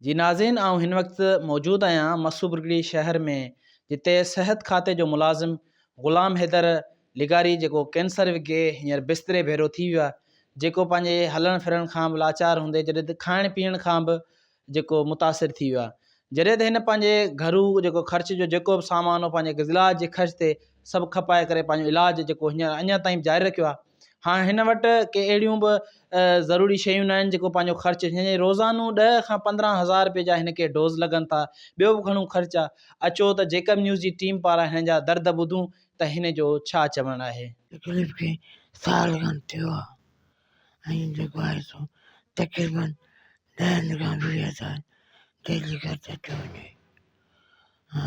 جي ناظرين آئون هن وقت موجود آهيان مسو برگڙي شهر ۾ جتي صحت کاتي جو ملازم غلام حيدر لغاري جيڪو ڪينسر وگهي هينئر بستري ڀيرو ٿي ويو آهي جيڪو پنهنجي هلڻ ڦرڻ کان به لاچار هوندي جڏهن ته کائڻ پيئڻ کان به جيڪو متاثر ٿي ويو آهي جڏهن ته هن پنهنجي گهرو جيڪو خرچ جو جيڪو به سامان هو پنهنجي گزلاج جي خرچ تي سڀ کپائي ڪري پنهنجو علاج جيڪو هينئر اڃا تائين جاري رکيو آهي هاڻ هن وٽ ڪي اهڙيون به ضروري شيون ناهن جيڪو پنهنجو خرچ هن جي روزانو ڏهه کان پندرهن هزار روپئي جا هن کي ڊوز لڳن ٿا ٻيو به گهڻو خرچ آ اچو ته جيڪب نيوز جي ٽيم پاران هن جا درد ٻڌون ته هن جو ڇا چوڻ آهي. تڪليف کي سال کن ٿيو آ ۽ جيڪو آهي سو تقريبا ڏهن کان ويهه هزار ڊيلي خرچ ٿيو وڃي ها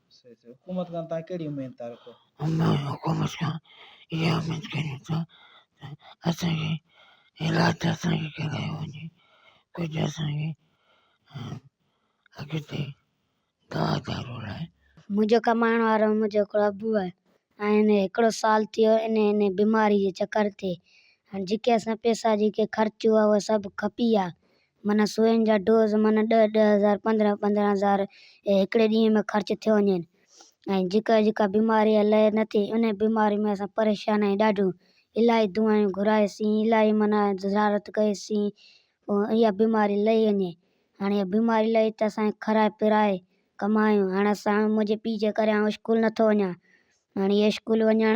حڪومت کان توهان ڪهڙي اميد ٿا رکو؟ عمران، حڪومت کان اها اميد ڪريون ٿا ته اسان کي علاج اسان کي ڪرايو وڃي، ڪجهه اسان کي اڳتي دوا دارو لاء. منهنجو ڪمائڻ وارو منهنجو هڪڙو ابو آهي ۽ هڪڙو سال ٿيو انهيء بيماريء جي چڪر تي ۽ جيڪي اسان پئسا جيڪي خرچ هئا اهي سڀ کپي ويا معنيٰ سوين جا ڊوز معنيٰ ڏهه ڏهه هزار پندرهن پندرهن هزار هڪڙي ڏينهن ۾ خرچ ٿيو وڃين ۽ جيڪا جيڪا بيماري يا لئي نه ٿي انهي بيماري ۾ اسان پريشان آهيون ڏاڍيون الاهي دعائيون گهرائي سين الاهي معنيٰ زيارت ڪئي سين ۽ اها بيماري لهي وڃي هاڻي اها بيماري لهي ته اسان کي کارائي پرائي ڪمايون هاڻي اسان منهنجي پيء جي ڪري آئون اسڪول نٿو وڃان. ھاڻي اسڪول وڃڻ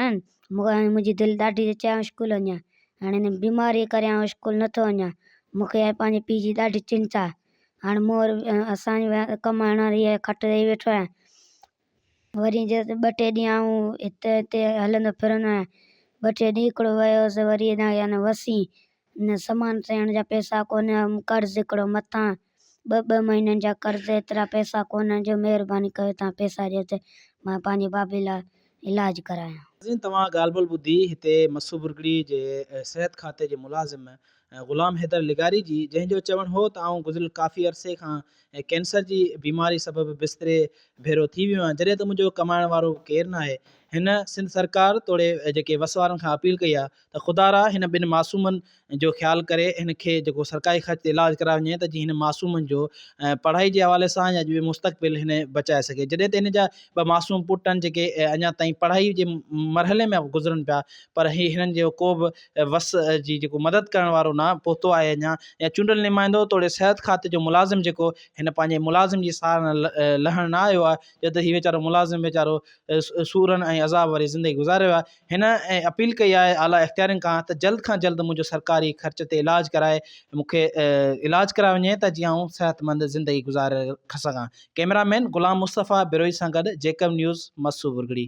منھنجي دل ڏاڍي تي چاھي اسڪول وڃان ھاڻي ھن بيماري ڪري آئون اسڪول نٿو وڃان مونکي ھاڻي پنھنجي پي جي ڏاڍي چنتا آھي ھاڻ مون ور اسان ڪمائڻ واري آھي کٽ تي ويٺو آھيان وري جي ٻه ٽي ڏينھن آئون ھتي ھتي ھلندو ڦرندو آھيان ٻه ٽي ڏينھن ھڪڙو ويو ھوس وري اڃا يعنی وسين نه سامان سيڻ جا پئسا ڪونهن ۽ قرض هڪڙو مٿان ٻه ٻه مهينن جا قرض ايترا پئسا ڪونهن جو مهرباني ڪيو توهان پئسا ڏيو ته مان پنهنجي بابي لاء علاج ڪرايان. ناظرين توهان ڳالهه ٻولهه ٻڌي هتي مسو برگڙي جي صحت کاتي جي ملازم غلام حيدر لغاري جي جنهن جو چوڻ هو ته آئون گذريل ڪافي عرصي کان ڪينسر جي بيماري سبب بستري ڀيرو ٿي ويو آهيان جڏهن ته منهنجو ڪمائڻ وارو به ڪير ناهي هن سنڌ سرڪار توڙي جيڪي وس وارن کان اپيل ڪئي آهي ته خدارا هن ٻن معصومن جو خيال ڪري هن کي جيڪو سرڪاري خرچ تي علاج ڪرايو وڃي ته جيئن هن معصومن جو پڙهائي جي حوالي سان يا جو مستقبل هن بچائي سگهي جڏهن ته هن جا ٻه معصوم پٽ آهن جيڪي اڃا تائين پڙهائي جي مرحلي ۾ گذرن پيا پر هي هنن جو ڪو به وس جي جيڪو مدد ڪرڻ وارو نه پهتو آهي اڃا يا چونڊل نمائندو توڙي صحت کاتي جو ملازم جيڪو هن پنهنجي ملازم جي سار لهڻ نه آيو آهي جڏهن ته هي ويچارو ملازم ويچارو سورن ۽ عذاب واري زندگي گذاري رهيو آهي هن اپيل ڪئي آهي اعليٰ اختيارين کان ته جلد کان جلد منهنجو سرڪاري خرچ تي علاج ڪرائي مون کي علاج ڪرايو وڃي ته جيئن آئون صحتمند زندگي گذاري سگهان ڪئميرا مين غلام مصطفيٰ بروهي سان گڏ جيڪب نيوز مستو ورگڙي.